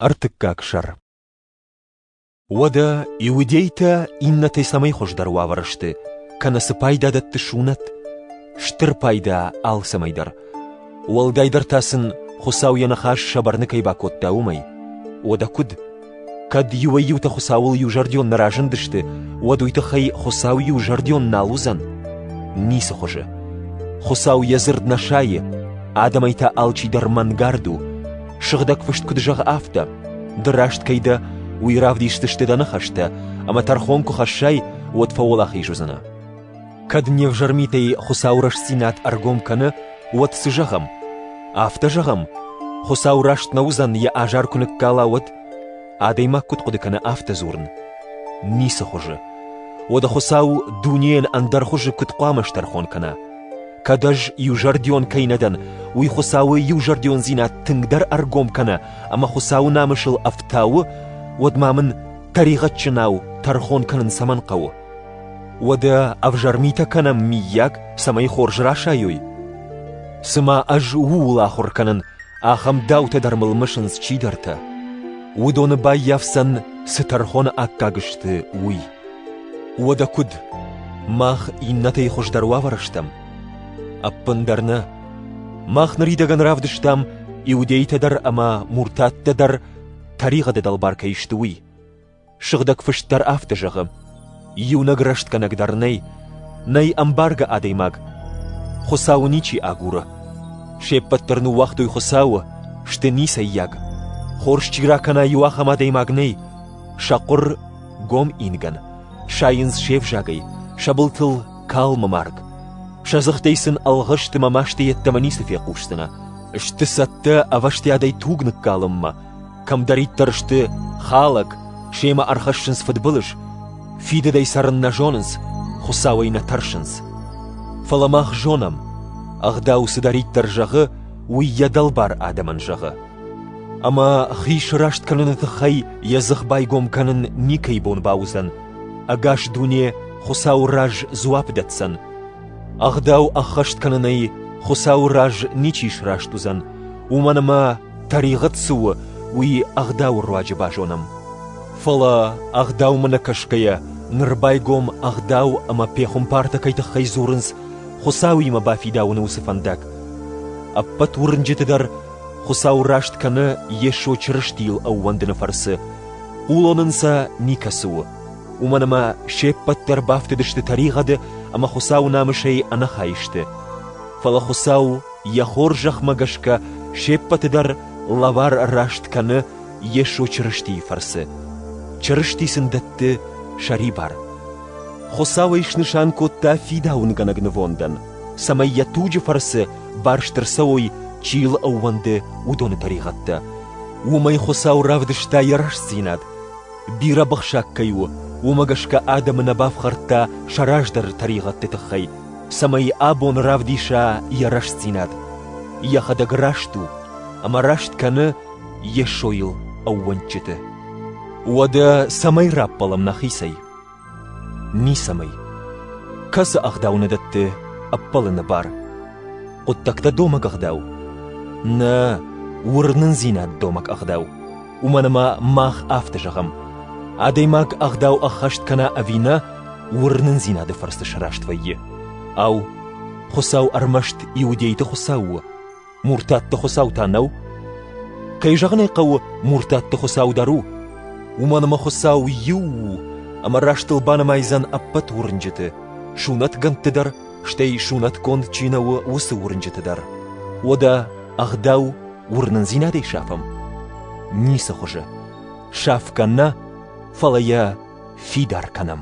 Ӕртыккаг сӕр Уӕдӕ иудейтӕ иннӕтӕй цӕмӕй хуыздӕр уавӕры сты, кӕнӕ цы пайда дӕтты сунӕт? Стыр пайда алцӕмӕй дӕр. Уӕлдайдӕр та сын Хуыцау йӕ ныхас сӕ бӕрны кӕй бакодта, уымӕй. Уӕдӕ куыд? Кӕд иуӕй-иутӕ Хуыцауыл иузӕрдион нӕ разындысты, уӕд уый тыххӕй Хуыцау иузӕрдион нал уыдзӕн? Ницы хуызы. Хуыцау йӕ дзырд нӕ сайы, адӕмӕй та алчидӕр мӕнгард у. Сыгъдӕг фыст куыд зӕгъы, афтӕ: Ды раст кӕй дӕ, уый равдисдзысты дӕ ныхӕстӕ, ӕмӕ тӕрхон куы хӕссай, уӕд фӕуӕлахиз уыдзынӕ. Кӕд не взӕрмитӕй Хуыцау рӕстдзинад ӕргом кӕны, уӕд цы зӕгъӕм? Афтӕ зӕгъӕм, Хуыцау раст нӕ уыдзӕн, йӕ азар куы ныккала, уӕд? Адӕймаг куыд хъуыды кӕны афтӕ дзурын? Ницы хуызы. Уӕдӕ Хуыцау дунейӕн ӕндӕр хуызы куыд хъуамӕ стӕрхон кӕна? Кӕд ӕз иузӕрдион кӕй нӕ дӕн, уый Хуыцауы иузӕрдиондзинад тынгдӕр ӕргом кӕны ӕмӕ Хуыцауы намысыл ӕфтауы, уӕд ма мын тӕригъӕдджынау тӕрхон кӕнын цӕмӕн хъӕуы? Уӕдӕ ӕвзӕр митӕ кӕнӕм, миййаг, цӕмӕй хорз расайой? Цымӕ ӕз ууыл ахуыр кӕнын, ахӕм даутӕ дӕр мыл мысынц чидӕртӕ. Уыдоны баййафдзӕн, цы тӕрхоны аккаг сты, уый. Уӕдӕ куыд? Мах иннӕтӕй хуыздӕр уавӕры стӕм? Ӕппындӕр нӕ. Мах ныридӕгӕн равдыстам, иудейтӕ дӕр ӕмӕ муртаттӕ дӕр тӕригъӕды дӕлбар кӕй сты, уый. Сыгъдӕг фыст дӕр афтӕ зӕгъы: Иунӕг рӕстгӕнӕг дӕр нӕй, нӕй ӕмбаргӕ адӕймаг, Хуыцауы ничи агуры. Се ппӕт дӕр ныууагътой Хуыцауы, сты ницӕййаг. Хорз чи ракӕна, иу ахӕм адӕймаг нӕй, сӕ хъуыр гом ингӕн, сайынц се взагӕй, сӕ былтыл калмы марг. Сӕ дзыхтӕй сын ӕлгъыстымӕ масты йеддӕмӕ ницы фехъусдзынӕ. Сты цӕттӕ ӕвӕстиадӕй туг ныккалынмӕ. Кӕмдӕриддӕр сты хӕлӕг, семӕ ӕрхӕссынц фыдбылыз, фидыдӕй цӕрын нӕ зонынц, Хуыцауӕй нӕ тӕрсынц. Фӕлӕ мах зонӕм, ӕгъдау цыдӕриддӕр зӕгъы, уый йӕ дӕлбар адӕмӕн зӕгъы. Ӕмӕ хи сраст кӕныны тыххӕй йӕ дзых байгом кӕнын никӕй бон бауыдзӕн, ӕгас дуне Хуыцауы раз дзуапп дӕтдзӕн. Ӕгъдау ӕххӕст кӕнынӕй Хуыцауы раз ничи сраст уыдзӕн, уымӕн ӕмӕ тӕригъӕд цы у, уый ӕгъдауы руаджы базонӕм. Фӕлӕ ӕгъдаумӕ нӕ кӕсгӕйӕ ныр байгом ӕгъдау ӕмӕ пехуымпартӕ кӕй тыххӕй дзурынц, Хуыцауимӕ бафидауыны уыцы фӕндаг. Ӕппӕт уырнджыты дӕр Хуцау раст кӕнӕ Йесо Чырыстийыл ӕууӕндыны фӕрцы хъулон ӕнцӕ никӕцы у, уымӕн ӕмӕ се ппӕт дӕр бафтыдысты тӕригъӕды ӕмӕ Хуыцауы намысӕй ӕнӕхай сты. Фӕлӕ Хуыцау йӕ хорзӕхмӕ гӕсгӕ се ппӕты дӕр лӕвар раст кӕны Йесо Чырыстийы фӕрцы. Чырысти сын дӕтты сӕрибар. Хуыцау ӕй снысан кодта фидауынгӕнӕг нывондӕн, цӕмӕй йӕ туджы фӕрцы барст ӕрцӕуой, чи йыл ӕууӕнды, уыдоны тӕригъӕдтӕ. Уымӕй Хуыцау равдыста йӕ рӕстдзинад. Бирӕ бахсаг кӕй у, уымӕ гӕсгӕ адӕмы нӕ бафхӕрдта сӕ раздӕры тӕригъӕдты тыххӕй, цӕмӕй абон равдиса йӕ рӕстдзинад. Йӕхӕдӕг раст у, ӕмӕ раст кӕны Йесойыл ӕууӕнчыты. Уӕдӕ цӕмӕй раппӕлӕм нӕхицӕй? Ницӕмӕй. Кӕцы ӕгъдау нӕ дӕтты ӕппӕлыны бар? Хъуыддӕгтӕ домӕг ӕгъдау? Нӕ, уырнындзинад домӕг ӕгъдау. Уымӕн ӕмӕ мах афтӕ зӕгъӕм. Адӕймаг ӕгъдау ӕххӕст кӕна ӕви нӕ, уырнындзинады фӕрцы сраст вӕййы. Ау, Хуыцау ӕрмӕст иудейты Хуыцау у? Муртатты Хуыцау та нӕу? Кӕй зӕгъын ӕй хъӕуы, Муртатты Хуыцау дӕр у. Уымӕн ӕмӕ Хуыцау иу у, ӕмӕ растыл банымайдзӕн ӕппӕт уырнджыты, сунӕтгӕндты дӕр, стӕй сунӕтгонд чи нӕ у, уыцы уырнджыты дӕр. Уӕдӕ ӕгъдау уырнындзинадӕй сафӕм? Ницы хуызы. Саф кӕнӕ, фӕлӕ йӕ фидар кӕнӕм.